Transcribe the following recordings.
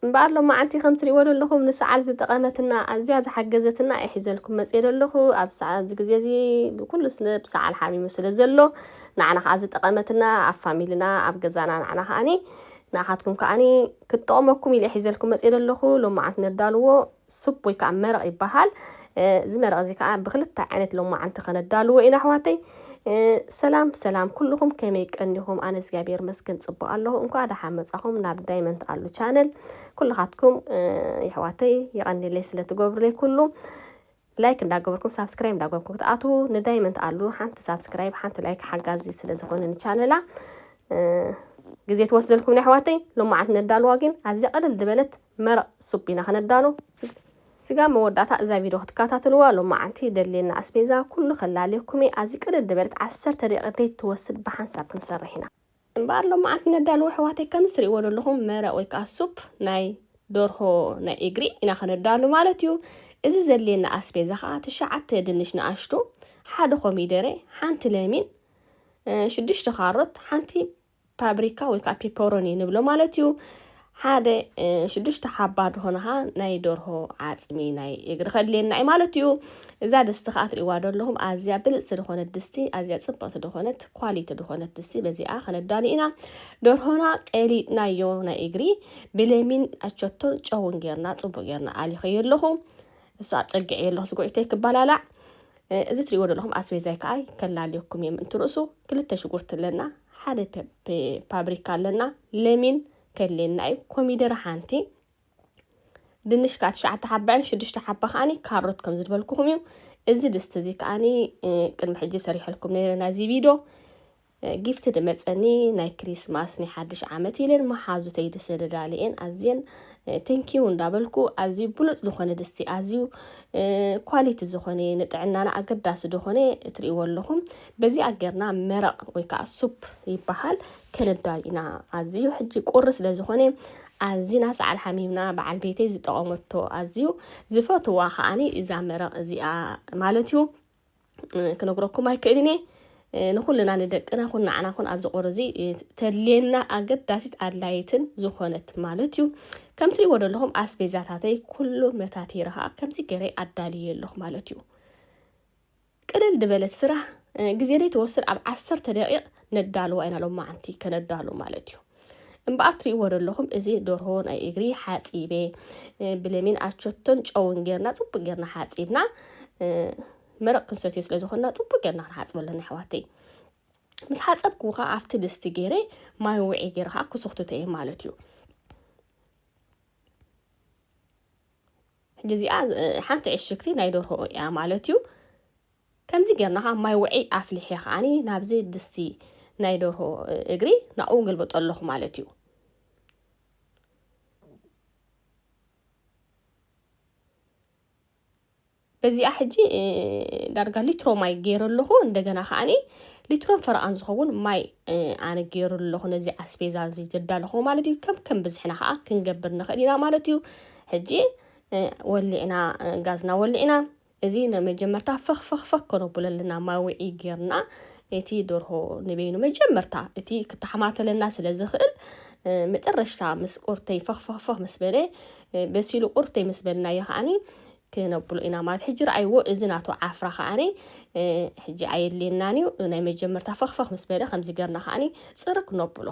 እምበኣር ሎማዓንቲ ከም ትሪእዎ ዘለኹም ንሰዓል ዝጠቐመትና ኣዝያ ዝሓገዘትና እየ ሒዘልኩም መፅየ ዘለኹ ኣብ ሰዓ- ኣብዚ ግዜ እዚ ኩሉ ስብ ሰዓል ሓሚሙ ስለ ዘሎ ንዓና ከዓ ዝጠቐመትና ኣብ ፋሚልና ኣብ ገዛና ንዓና ከዓኒ ንዓኻትኩም ከዓኒ ክትጠቕመኩም ኢለ እየ ሒዘልኩም መፅየ ዘለኹ ሎማዓንቲ ነዳልዎ ሱፕ ወይ ከዓ መረቕ ይበሃል። እዚ መረቕ እዚ ከዓ ብክልተ ዓይነት ሎማዓንቲ ከነዳልዎ ኢና ኣሕዋተይ። ሰላም ሰላም ኩልኹም ከመይ ቀኒኹም? ኣነ እግዚኣብሔር መስገን ፅቡቅ ኣለኹ። እንኳ ደሓ መፃኹም ናብ ዳይመንት ኣሉ ቻነል ኩልኻትኩም ይሕዋተይ ይቐኒለይ ስለትገብሩለይ ኩሉ ላይክ እንዳገበርኩም ሳብስክራይብ እንዳገበርኩም ክትኣትዉ ንዳይመንት ኣሉ ሓንቲ ሳብስክራይብ ሓንቲ ላይክ ሓጋዚ ስለዝኾነ ንቻነላ ግዜ ትወስደልኩም ናይ ኣሕዋተይ ሎማዓት ነዳልዋ ግን ኣዝያ ቅልል ዝበለት መረቕ ሱፕ ኢና ክነዳሉ ስጋብ መወዳእታ እዛ ቪድዮ ክትከታተልዋ ሎማዓንቲ ይደልየና ኣስቤዛ ኩሉ ከላልየኩም እየ ኣዚ ቅድድ ድበለት ዓሰርተ ደቂቅ ደይ ትወስድ ብሓንሳብ ክንሰርሕ ኢና እምበኣር ሎማዓንቲ ነዳሉ ኣሕዋተይ ከምዝ ትሪእዎ ደለኹም መረቕ ወይ ከኣ ሱፕ ናይ ደርሆ ናይ ኢግሪ ኢና ክነዳሉ ማለት እዩ እዚ ዘድልየና ኣስቤዛ ከኣ ትሽዓተ ድንሽ ንኣሽቱ ሓደ ኮሚደረ ሓንቲ ለሚን ሽዱሽተ ካሮት ሓንቲ ፓብሪካ ወይ ከዓ ፔፐሮኒ ንብሎ ማለት እዩ ሓደ ሽዱሽተ ሓባ ድኾነኻ ናይ ደርሆ ዓፅሚ ናይ እግሪ ከድልየና እዩ ማለት እዩ እዛ ድስቲ ከዓ ትሪእዋ ደለኹም ኣዝያ ብልፅቲ ድኾነት ድስቲ ኣዝያ ፅብቕቲ ድኾነት ኳሊቲ ድኾነት ድስቲ በዚኣ ከነዳሊ ኢና ደርሆና ቀሊጥናዮ ናይ እግሪ ብለሚን ኣቸቶን ጨውን ጌርና ፅቡቅ ጌርና ኣሊኸዮ ኣለኹ እሱ ኣፀግዐዮ ኣለኹ ስጉዒተይ ክባላላዕ እዚ ትሪእዎ ዘለኹም ኣስቤዛይ ከዓ ከላልየኩም እየ ምእንቲ ርእሱ ክልተ ሽጉርቲ ኣለና ሓደ ፓብሪካ ኣለና ለሚን ከድልየና እዩ ኮሚደረ ሓንቲ ድንሽ ከዓ ትሽዓተ ሓባን ሽዱሽተ ሓባ ከዓኒ ካሮት ከም ዝድበልኩኹም እዩ እዚ ድስቲ እዚ ከዓኒ ቅድሚ ሕጂ ሰሪሐልኩም ነይረ ናይዚ ቪድዮ ጊፍቲ ድመጸኒ ናይ ክሪስማስ ናይ ሓድሽ ዓመት ኢለን መሓዙተይ ድስቲ ደዳሊኤን ኣዝየን ቴንኪው እንዳበልኩ ኣዝዩ ብሉጽ ዝኾነ ድስቲ ኣዝዩ ኳሊቲ ዝኾነ ንጥዕናና ኣገዳሲ ዝኾነ እትርእይዎ ኣለኹም በዚ ኣገርና መረቕ ወይ ከዓ ሱፕ ይበሃል ከነዳል ኢና ኣዝዩ ሕጂ ቁሪ ስለ ዝኾነ ኣዝና ሰዓል ሓሚምና በዓል ቤተይ ዝጠቐመቶ ኣዝዩ ዝፈትዋ ከዓኒ እዛ መረቕ እዚኣ ማለት እዩ ክነግረኩም ኣይክእልን እየ ንኹልና ንደቅና ኹን ንዓና ኹን ኣብዚ ቁር እዚ ተድልየና ኣገዳሲት ኣድላይትን ዝኾነት ማለት እዩ ከም ትሪእዎ ዘለኹም ኣስቤዛታተይ ኩሉ መታቲረ ከዓ ከምዚ ገይረ ኣዳልየ ኣለኹ ማለት እዩ ቅልል ዝበለት ስራሕ ግዜ ዘይትወስድ ኣብ ዓሰርተ ደቂቕ ነዳልዋ ኢና ሎማዓንቲ ከነዳሉ ማለት እዩ እምበኣር ትርእይዎ ዶ ኣለኹም እዚ ደርሆ ናይ እግሪ ሓጺበ ብለሚን ኣቸቶን ጨውን ጌርና ጽቡቅ ጌርና ሓጺብና መረቅ ክንሰትዮ ስለ ዝኾንና ጽቡቅ ጌርና ክንሓጽብ ኣለና ኣሕዋተይ ምስ ሓጸብኩ ከዓ ኣብቲ ድስቲ ገይረ ማይ ውዒ ገይረ ከዓ ክስኽትቶ እየ ማለት እዩ ሕጂ እዚኣ ሓንቲ ዕሽግቲ ናይ ደርሆ እያ ማለት እዩ ከምዚ ጌርና ከኣ ማይ ውዕይ ኣፍሊሐ ከኣ ናብዚ ድስቲ ናይ ደርሆ እግሪ ናብኡ ገልበጦ ኣለኹ ማለት እዩ። በዚኣ ሕጂ ዳርጋ ሊትሮ ማይ ገይረ ኣለኹ እንደገና ከዓኒ ሊትሮን ፈረቓን ዝኸውን ማይ ኣነ ገይሩ ኣለኹ ነዚ ኣስቤዛ እዚ ዘዳለኹ ማለት እዩ ከም ከም ብዝሕና ከዓ ክንገብር ንኽእል ኢና ማለት እዩ ሕጂ ወሊዕና ጋዝና ወሊዕና እዚ ናይ መጀመርታ ፈኽፈኽፈኽ ከነቡለልና ማውዒ ጌርና እቲ ደርሆ ንበይኑ መጀመርታ እቲ ክተሓማተለና ስለ ዝኽእል መጠረሽታ ምስ ቁርተይ ፈኽፈኽፈኽ ምስ በለ በሲሉ ቁርተይ ምስ በልናዮ ከዓኒ ክነብሎ ኢና ማለት ሕጂ ረኣይዎ እዚ ናቱ ዓፍራ ከዓኒ ሕጂ ኣየድልየናን እዩ ናይ መጀመርታ ፈኽፈኽ ምስ በለ ከምዚ ገርና ከዓኒ ጽርግ ነብሎ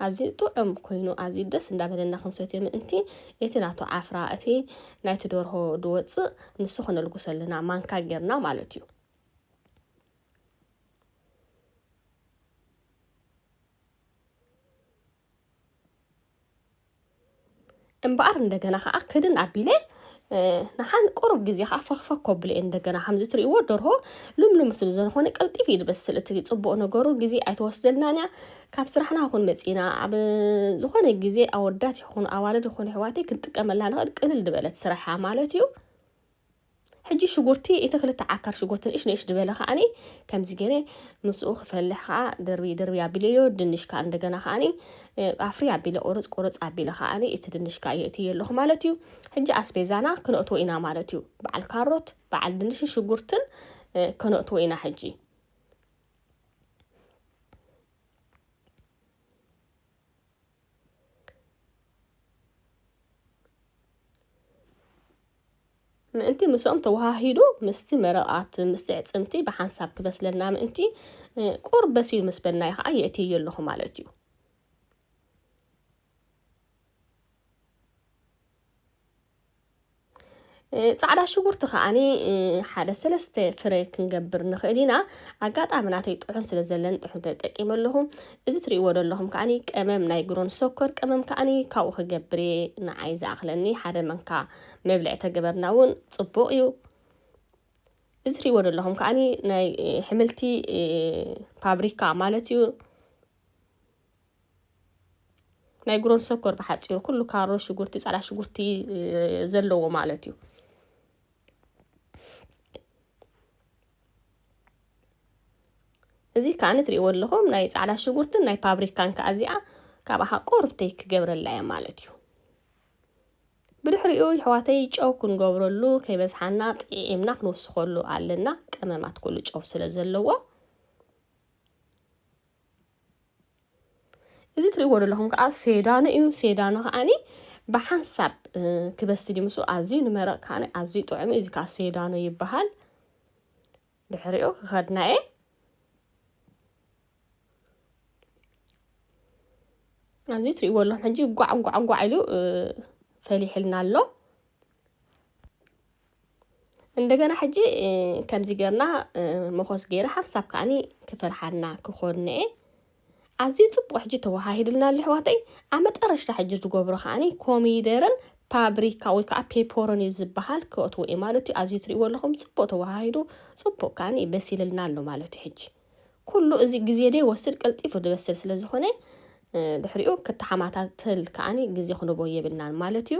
ኣዝዩ ጥዑም ኮይኑ ኣዝዩ ደስ እንዳበለና ክንሰትዮ ምእንቲ እቲ ናቱ ዓፍራ እቲ ናይቲ ደርሆ ድወጽእ ንሱ ክነልጉሶ ኣለና ማንካ ጌርና ማለት እዩ። እምበኣር እንደገና ከዓ ክድን ኣቢለ ንሓን ቁሩብ ግዜ ከዓ ፈኽፈኽ ከብሎ እየ እንደገና ከምዚ ትሪእዎ ደርሆ ልምሉም ስለ ዝኾነ ቀልጢፍ እዩ ዝበስል እቲ ፅቡቅ ነገሩ ግዜ ኣይተወስደልናን እያ ካብ ስራሕና ይኹን መፂና ኣብ ዝኾነ ግዜ ኣወዳት ይኹኑ ኣዋልድ ይኹኑ ኣሕዋተይ ክንጥቀመላ ንኽእል ቅልል ዝበለት ስራሕ እያ ማለት እዩ ሕጂ ሽጉርቲ ኢቲ ክልተ ዓካር ሽጉርቲ ንእሽ ንእሽ ድበለ ከኣኒ ከምዚ ገረ ምስኡ ክፈልሕ ከኣ ድርብይ ድርብይ ኣቢለዮ ድንሽ ከኣ እንደገና ከኣኒ ኣፍሪ ኣቢለ ቁርጽ ቁርጽ ኣቢለ ከኣኒ ኢቲ ድንሽ ከኣ የእትዮ ኣለኩ ማለት እዩ ሕጂ ኣስቤዛና ክነእትዎ ኢና ማለት እዩ በዓል ካሮት በዓል ድንሽን ሽጉርትን ከነእትዎ ኢና ሕጂ ምእንቲ ምስኦም ተወሃሂዱ ምስቲ መረቓት ምስቲ ዕፅምቲ ብሓንሳብ ክበስለልና ምእንቲ ቁር በሲሉ ምስ በልናዮ ከዓ የእትዮ ኣለኹ ማለት እዩ ፃዕዳ ሽጉርቲ ከዓኒ ሓደ ሰለስተ ፍረ ክንገብር ንኽእል ኢና ኣጋጣሚ ናተይ ጥሑን ስለ ዘለኒ ጥሑን ተጠቂመ ኣለኹ እዚ ትሪእዎ ዘለኹም ከዓኒ ቀመም ናይ ግሮን ሰኮር ቀመም ከዓኒ ካብኡ ክገብር እየ ንዓይ ዝኣኽለኒ ሓደ መንካ መብልዒ ተገበርና እውን ፅቡቕ እዩ እዚ ትሪእዎ ዘለኹም ከዓኒ ናይ ሕምልቲ ፋብሪካ ማለት እዩ ናይ ጉሮን ሰኮር ብሓፂሩ ኩሉ ካሮ ሽጉርቲ ፃዕዳ ሽጉርቲ ዘለዎ ማለት እዩ እዚ ከዓኒ ትሪእዎ ኣለኹም ናይ ፃዕዳ ሽጉርትን ናይ ፓብሪካን ከዓ እዚኣ ካብኣ ቆርብተይ ክገብረላ እየ ማለት እዩ ብድሕሪኡ ይሕዋተይ ጨው ክንገብረሉ ከይበዝሓና ጥዒምና ክንወስኸሉ ኣለና ቀመማት ኩሉ ጨው ስለ ዘለዎ እዚ ትሪእዎ ዘለኹም ከዓ ሴዳኑ እዩ። ሴዳኑ ከዓኒ ብሓንሳብ ክበስል እዩ ምስኡ ኣዝዩ ንመረቕ ከዓ ኣዝዩ ጥዑም እዩ። እዚ ከዓ ሴዳኑ ይበሃል። ድሕሪኡ ክኸድና እየ ኣዝዩ ትሪእዎ ኣለኹም ሕጂ ጓዕ ጓዕ ጓዕ ኢሉ ፈሊሕልና ኣሎ። እንደገና ሕጂ ከምዚ ገርና መኾስ ገይረ ሓንሳብ ከዓኒ ክፈርሓና ክኾንነ እየ ኣዝዩ ጽቡቅ ሕጂ ተወሃሂድልና ኣሎ ኣሕዋተይ ኣብ መጠረሽታ ሕጂ ዝገብሮ ከዓኒ ኮሚደርን ፓብሪካ ወይ ከዓ ፔፐሮኒ ዝበሃል ክእትዎ እዩ ማለት እዩ ኣዝዩ ትሪእዎ ኣለኹም ጽቡቅ ተወሃሂዱ ጽቡቅ ከዓኒ በሲልልና ኣሎ ማለት እዩ ሕጂ ኩሉ እዚ ግዜ ደ ወስድ ቀልጢፉ ዝበስል ስለ ዝኾነ ድሕሪኡ ክተሓማታተል ከዓኒ ግዜ ክንቦ የብልናን ማለት እዩ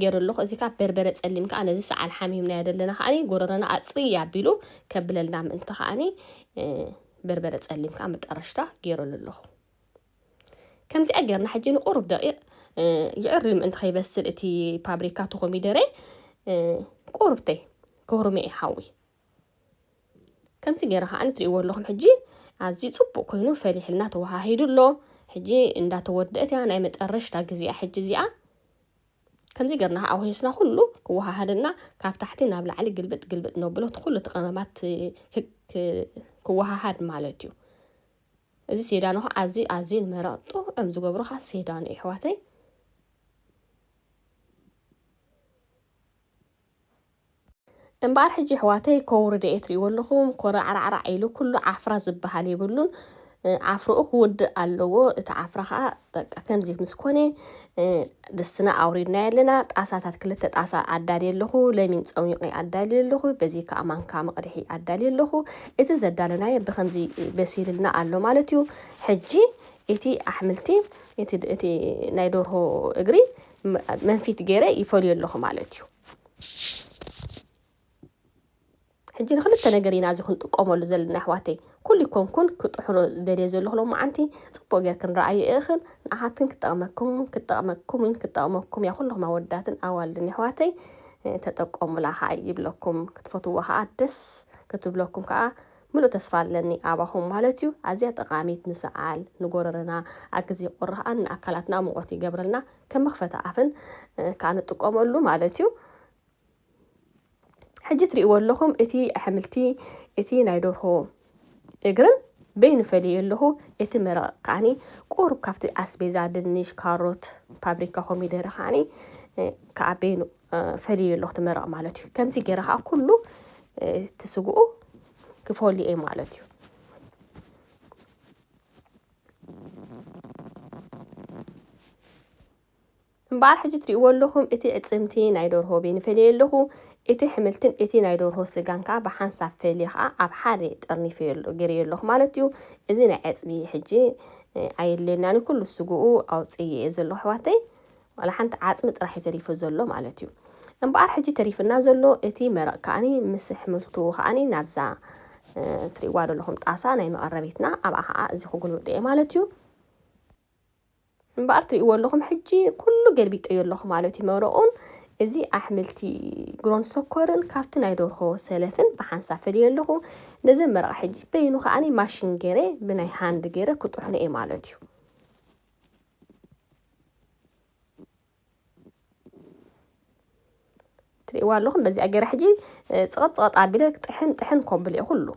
ጌሩ ኣለኹ እዚ ከኣ በርበረ ጸሊም ከኣ ነዚ ሰዓል ሓሚምናዮ ዘለና ከኣ ጎረረና ኣጽርይ ኣቢሉ ከብለልና ምእንቲ ከኣ በርበረ ጸሊም ከኣ መጠረሽታ ጌረሉ ኣለኹ ከምዚኣ ጌርና ሕጂ ንቁሩብ ደቂቕ ይዕሪ ምእንቲ ከይበስል እቲ ፓብሪካ ተኮሚደረ ቁርብተይ ክህሩም እየ ሓዊ ከምዚ ገይረ ከዓ ንትሪእዎ ኣለኹም ሕጂ ኣዝዩ ፅቡቅ ኮይኑ ፈሊሕልና ተወሃሂዱ ኣሎ ሕጂ እንዳተወደአት እያ ናይ መጠረሽታ ግዜያ ሕጂ እዚኣ ከምዚ ገርና ከዓ ወሂስና ኩሉ ክወሃሃደና ካብ ታሕቲ ናብ ላዕሊ ግልብጥ ግልብጥ ነብሎ እቲ ኩሉ እቲ ቀመማት ክወሃሃድ ማለት እዩ እዚ ሴዳኖ ከዓ ኣዚ ኣዝዩ ንመረቕ ጥዑም ዝገብሮ ከዓ ሴዳኖ እዩ ኣሕዋተይ እምበኣር ሕጂ ኣሕዋተይ ኮው ርድኤት ሪእዎ ኣለኹም ኮራዕራዕራዕ ኢሉ ኩሉ ዓፍራ ዝበሃል የብሉን ዓፍርኡ ክውድእ ኣለዎ እቲ ዓፍራ ከዓ በቃ ከምዚ ምስ ኮነ ድስትና ኣውሪድናዮ ኣለና ጣሳታት ክልተ ጣሳ ኣዳልየ ኣለኹ ለሚን ፀሚቑ ኣዳልየ ኣለኹ በዚ ከዓ ማንካ መቕድሒ ኣዳልየ ኣለኹ እቲ ዘዳለናዮ ብከምዚ በሲልልና ኣሎ ማለት እዩ ሕጂ እቲ ኣሕምልቲ እቲ ናይ ደርሆ እግሪ መንፊት ገይረ ይፈልዮ ኣለኹ ማለት እዩ ሕጂ ንክልተ ነገር ኢና እዚ ክንጥቀመሉ ዘለና ኣሕዋተይ ኩሉ ኮንኩን ክጥሕኖ ደልየ ዘለኹ ሎማዓንቲ ፅቡቅ ጌርክን ረኣዩ እኽን ንኣኻትክን ክጠቅመኩም ክጠቅመኩምን ክጠቅመኩም እያ ኩልኹም ኣወዳትን ኣዋልድን ኣሕዋተይ ተጠቀሙላ ከዓ ይብለኩም ክትፈትዎ ከዓ ደስ ክትብለኩም ከዓ ምሉእ ተስፋ ኣለኒ ኣባኹም ማለት ዩ። ኣዝያ ጠቓሚት ንሰዓል ንጎረረና ኣብ ግዜ ቁሪ ከኣ ንኣካላትና ሙቆት ይገብረልና ከም መኽፈቲ ኣፍን ከኣ ንጥቀመሉ ማለት ዩ። ሕጂ ትሪእዎ ኣለኹም እቲ ኣሕምልቲ እቲ ናይ ደርሆ እግርን በይኑ ፈልየ ኣለኹ እቲ መረቕ ከኣኒ ቁሩብ ካብቲ ኣስቤዛ ድንሽ ካሮት ፓብሪካ ኮሚደረ ከኣኒ ከኣ በይኑ ፈልዩ ኣለኹ ትመረቕ ማለት እዩ ከምዚ ገይረ ከዓ ኩሉ እቲ ስግኡ ክፈሉ እየ ማለት እዩ እምበኣር ሕጂ ትሪእዎ ኣለኹም እቲ ዕፅምቲ ናይ ዶርሆ ቤኒ ፈልየ ኣለኹ እቲ ሕምልትን እቲ ናይ ዶርሆ ስጋን ከዓ ብሓንሳብ ፈልየ ከዓ ኣብ ሓደ ጠርኒፈ ገይረዮ ኣለኹ ማለት እዩ እዚ ናይ ዕፅቢ ሕጂ ኣየድልየናን ኩሉ ስግኡ ኣውፅእ እየ ዘለኹ ኣሕዋተይ ዋላ ሓንቲ ዓጽሚ ጥራሕ እዩ ተሪፉ ዘሎ ማለት እዩ። እምበኣር ሕጂ ተሪፍና ዘሎ እቲ መረቕ ከኣኒ ምስ ኣሕምልቱ ከኣኒ ናብዛ ትሪእዋ ዘለኹም ጣሳ ናይ መቐረቢትና ኣብኣ ከዓ እዚ ክጉልብጥ እየ ማለት እዩ። እምበኣር ትሪእዎ ኣለኹም ሕጂ ኩሉ ገልቢጠዮ ኣለኹ ማለት እዩ መረቑን እዚ ኣሕምልቲ ግሮን ሰኮርን ካብቲ ናይ ደርሆ ሰለፍን ብሓንሳብ ፈልየ ኣለኹ ነዚ መረቕ ሕጂ በይኑ ከዓኒ ማሽን ገይረ ብናይ ሃንድ ገይረ ክጥሕኖ እየ ማለት እዩ ትርእይዋ ኣለኹም በዚኣ ገይረ ሕጂ ፅቐጥ ፅቐጥ ኣቢለ ጥሕን ጥሕን ኮብል እየ ኩሉ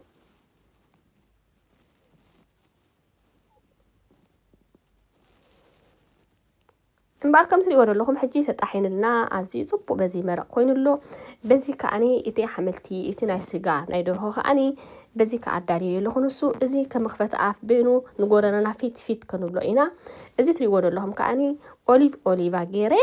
እምበኣር ከም ትሪእዎ ዘለኹም ሕጂ ተጣሒንልና ኣዝዩ ፅቡቅ በዚ መረቅ ኮይኑ ኣሎ በዚ ከዓኒ እቲ ሓመልቲ እቲ ናይ ስጋ ናይ ደርሆ ከዓኒ በዚ ከኣ ኣዳልየዮ ኣለኹ ንሱ እዚ ከመኽፈቲ ኣፍ በይኑ ንጎረረና ፊት ፊት ክንብሎ ኢና እዚ ትሪእዎ ዘለኹም ከኣኒ ኦሊቭ ኦሊቫ ገይረ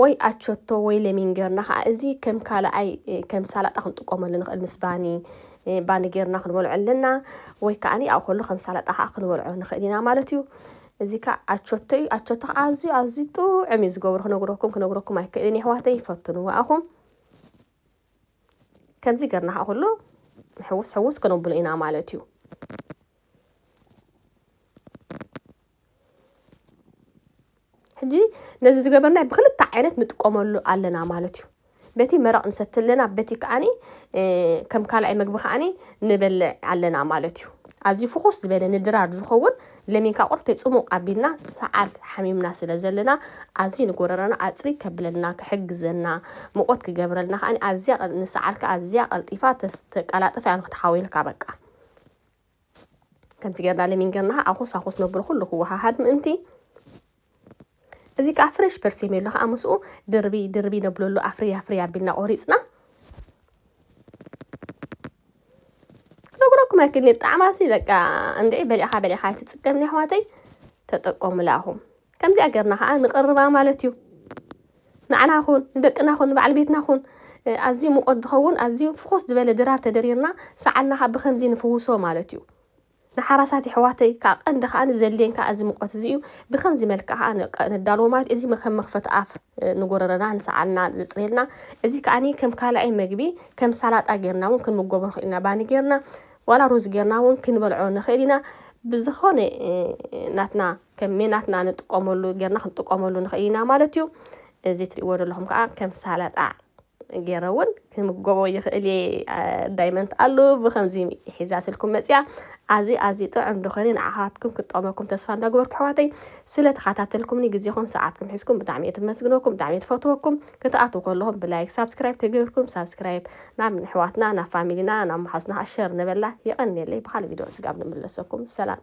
ወይ ኣቸቶ ወይ ለሚን ጌርና ከዓ እዚ ከም ካልኣይ ከም ሳላጣ ክንጥቀመሉ ንኽእል ምስ ባኒ ባኒ ጌርና ክንበልዖ ኣለና ወይ ከዓኒ ኣብ ከሎ ከም ሳላጣ ከዓ ክንበልዖ ንኽእል ኢና ማለት እዩ እዚ ካኣ ኣቾቶ ዩ ኣቾቶ ካኣ ኣዝዩ ኣዝዩ ጡዑም ዩ ዝገብሮ ክነግረኩም ክነግረኩም ኣይክእልን የሕዋተይ ፈትንዎ ኣኹም ከምዚ ገርና ካኣ ኩሉ ሕውስ ሕውስ ክነብሎ ኢና ማለት ዩ ሕጂ ነዚ ዝገበርናይ ብክልተ ዓይነት ንጥቀመሉ ኣለና ማለት ዩ በቲ መረቕ ንሰቲ ኣለና፣ በቲ ከኣኒ ከም ካልኣይ መግቢ ከኣኒ ንበልዕ ኣለና ማለት እዩ። ኣዝዩ ፍኹስ ዝበለ ንድራር ዝኸውን ለሚንካ ቁርብተይ ጽሙቕ ኣቢልና ሰዓር ሓሚምና ስለ ዘለና ኣዝዩ ንጎረረና ኣጽሪ ከብለልና ክሕግዘና ሙቆት ክገብረልና ከኣ ኣዝያ ንሰዓርካ ኣዝያ ቀልጢፋ ተስተቀላጥፍ እያ ንክትሓውየልካ በቃ ከምቲ ጌርና ለሚን ጌርና ኣኹስ ኣኹስ ነብሎ ኩሉ ክወሃሃድ ምእንቲ እዚ ከዓ ፍሬሽ ፐርሴሜሎ ከዓ ምስኡ ድርቢ ድርቢ ነብለሉ ኣፍርያ ኣፍርያ ኣቢልና ቆሪፅና ክነግረኩም ኣይክልኒ ጣዕማሲ በቃ እንድዒ በሊዕኻ በሊዕኻ ኣይትፅገምን ኣሕዋተይ ተጠቀሙላ ኣኹም ከምዚኣ ገርና ከኣ ንቅርባ ማለት እዩ። ንዓና ኩን ንደቅና ኩን ንበዓል ቤትና ኩን ኣዝዩ ሙቆት ድኸውን ኣዝዩ ፍኹስ ድበለ ድራር ተደሪርና ሰዓልና ከኣ ብከምዚ ንፍውሶ ማለት እዩ። ንሓራሳት የሕዋተይ ከኣ ቀንዲ ከኣ ዘድልየን ከኣ እዚ ሙቆት እዚ እዩ ብከምዚ መልክዕ ከኣ ነዳልዎ ማለት እዚ ከም መክፈቲ ኣፍ ንጎረረና ንሰዓልና ዘጽርየልና እዚ ከኣ ከም ካላኣይ መግቢ ከም ሳላጣ ገርና ውን ክንምገቦ ንክእል ኢና ባኒ ገርና ዋላ ሩዝ ገርና ውን ክንበልዖ ንክእል ኢና ብዝኮነ ናትና ከመይ ናትና ንጥቀመሉ ጌርና ክንጥቀመሉ ንኽእል ኢና ማለት እዩ እዚ ትሪእዎ ዘለኹም ከዓ ከም ሳላጣ ገይረ እውን ክምገቦ ይኽእል እየ ዳይመንት ኣሉ ብከምዚ ሒዛትልኩም መፅያ ኣዚ ኣዚ ጥዑም ድኾነ ንዓኻትኩም ክጠቕመኩም ተስፋ እንዳግበርኩ ኣሕዋተይ ስለ ተኸታተልኩምኒ ግዜኹም ሰዓትኩም ሒዝኩም ብጣዕሚ እየ ትመስግነኩም ብጣዕሚ እየ ትፈትወኩም ክትኣትዉ ከለኹም ብላይክ ሳብስክራይብ ተገብርኩም ሳብስክራይብ ናብ ንሕዋትና ናብ ፋሚሊና ናብ መሓዝና ኣሸር ነበላ የቐኒየለይ ብካልእ ቪድዮ ስጋብ ንምለሰኩም ሰላም